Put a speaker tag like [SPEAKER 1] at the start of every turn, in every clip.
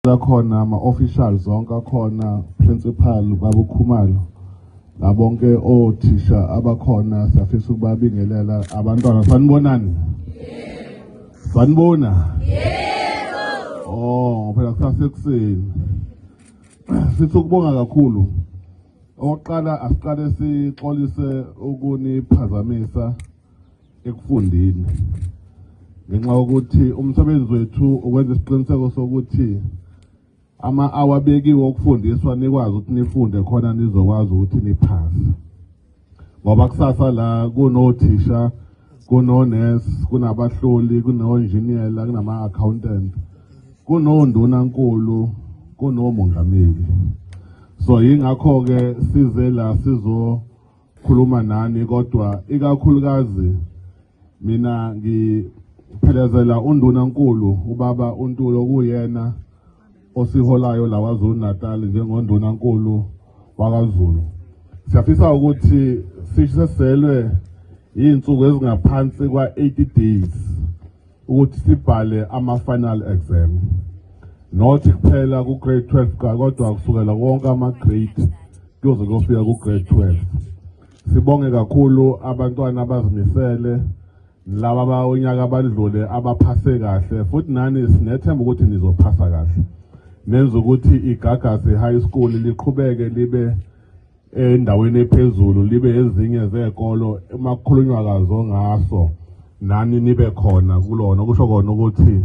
[SPEAKER 1] akhona ama-official zonke akhona principal babukhumalo nabonke othisha abakhona siyafisa ukubabingelela abantwana sanibonani sanibona oh phela kusasekuseni sifisa ukubonga kakhulu okokuqala asiqale sixolise ukuniphazamisa ekufundeni ngenxa yokuthi umsebenzi wethu ukwenza isiqiniseko sokuthi ama-awa abekiwe okufundiswa nikwazi ukuthi nifunde khona nizokwazi ukuthi niphase ngoba kusasa la kunothisha kunones kunabahloli kunonjiniyela kunama-accountant kunondunankulu kunomongameli so yingakho-ke size la sizo khuluma nani kodwa ikakhulukazi mina ngiphelezela undunankulu ubaba uNtulo kuyena osiholayo la KwaZulu Natal njengondunankulu wakaZulu siyafisa ukuthi sishiselwe iy'nsuku ezingaphansi kwa-80 days ukuthi sibhale ama-final exam not kuphela ku-grade 12 ka kodwa kusukela wonke ama-grade kuyoze kuyofika ku-grade 12 sibonge kakhulu abantwana abazimisele laba abawunyaka abadlule abaphase kahle futhi nani sinethemba ukuthi nizophasa kahle nenza ukuthi igagasi high school liqhubeke libe endaweni ephezulu libe ezinye zekolo emakhulunywa kazo ngaso nani nibe khona kulona kusho kona ukuthi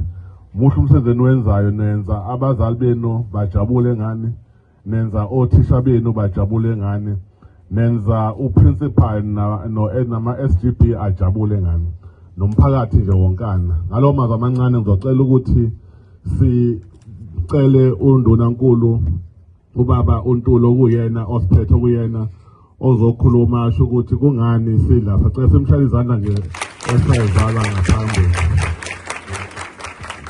[SPEAKER 1] muhle umsebenzi eniwenzayo nenza abazali benu bajabule ngani nenza othisha benu bajabule ngani nenza uprincipal nama-sgb ajabule ngani nomphakathi nje wonkana ngalowo mazwi amancane ngizocela ukuthi sicele undunankulu ubaba uNtulo kuyena osiphethe kuyena ozokhuluma asho ukuthi kungani sidla sacela simhlale izandla nje esayizala ngaphambili